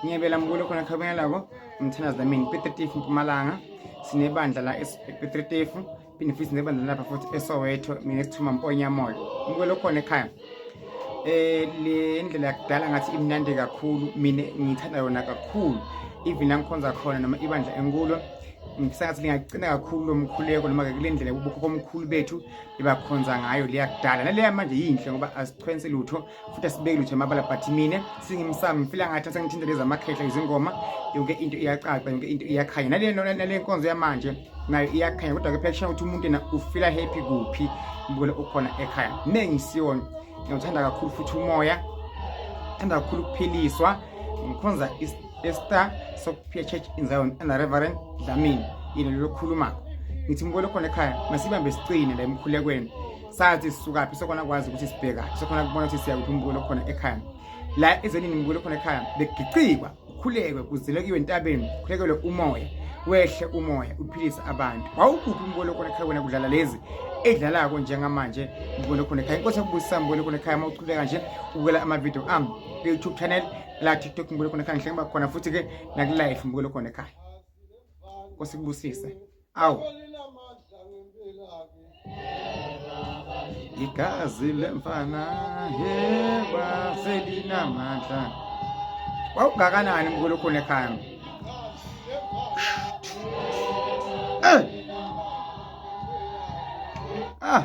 ngiyabela mkulo khona khabengelako umthandazi namini petritifu mpumalanga sinebandla la epetritifu phinde futhi sinebandla lapha futhi esoweto mina esithuma mponyamoya mkulo khona ekhaya eh le ndlela yakudala ngathi imnandi kakhulu mina ngithanda yona kakhulu even angikhonza khona noma ibandla enkulo ngisathi lingagcina kakhulu lo mkhuleko noma-ke kule ndlela ubukhokho omkhulu bethu bebakhonza ngayo leyakudala naleya manje yinhle ngoba azichwensi lutho futhi asibeki lutho emabala but mina singimsami ngifila ngathi sengithinta lezi amakhehla izingoma yonke into iyacaca yonke into iyakhanya nale nale nkonzo yamanje nayo iyakhanya kodwa ke phela kushiya ukuthi umuntu yena ufila happy kuphi mbukele ukhona ekhaya mina ngisiyona ngiyawuthanda kakhulu futhi umoya ngithanda kakhulu ukuphiliswa ngikhonza estar sokuphia church in zion and reverend dlamini yena lolokhuluma ngithi mbukele khona ekhaya masibambe siqine la emkhulekweni sathi sisukaphi sekhona kwazi ukuthi sibheka sekhona kubona ukuthi siya kuphi umbulo khona ekhaya la ezenini umbulo khona ekhaya begicikwa ukhulekwe kuzilekiwe entabeni khulekele umoya wehle umoya uphilise abantu wawukuphi umbulo khona ekhaya wena kudlala lezi edlalako njengamanje umbulo khona ekhaya inkosi yakubusisa umbulo khona ekhaya mawuchuleka nje ubukela ama video am ku YouTube channel la TikTok umbulo khona ekhaya ngihleke bakhona futhi ke naku live umbulo khona ekhaya nkosi kubusise awu igazi lemfana yeba selinamandla wawungakanani mkhulu khona ekhaya eh ah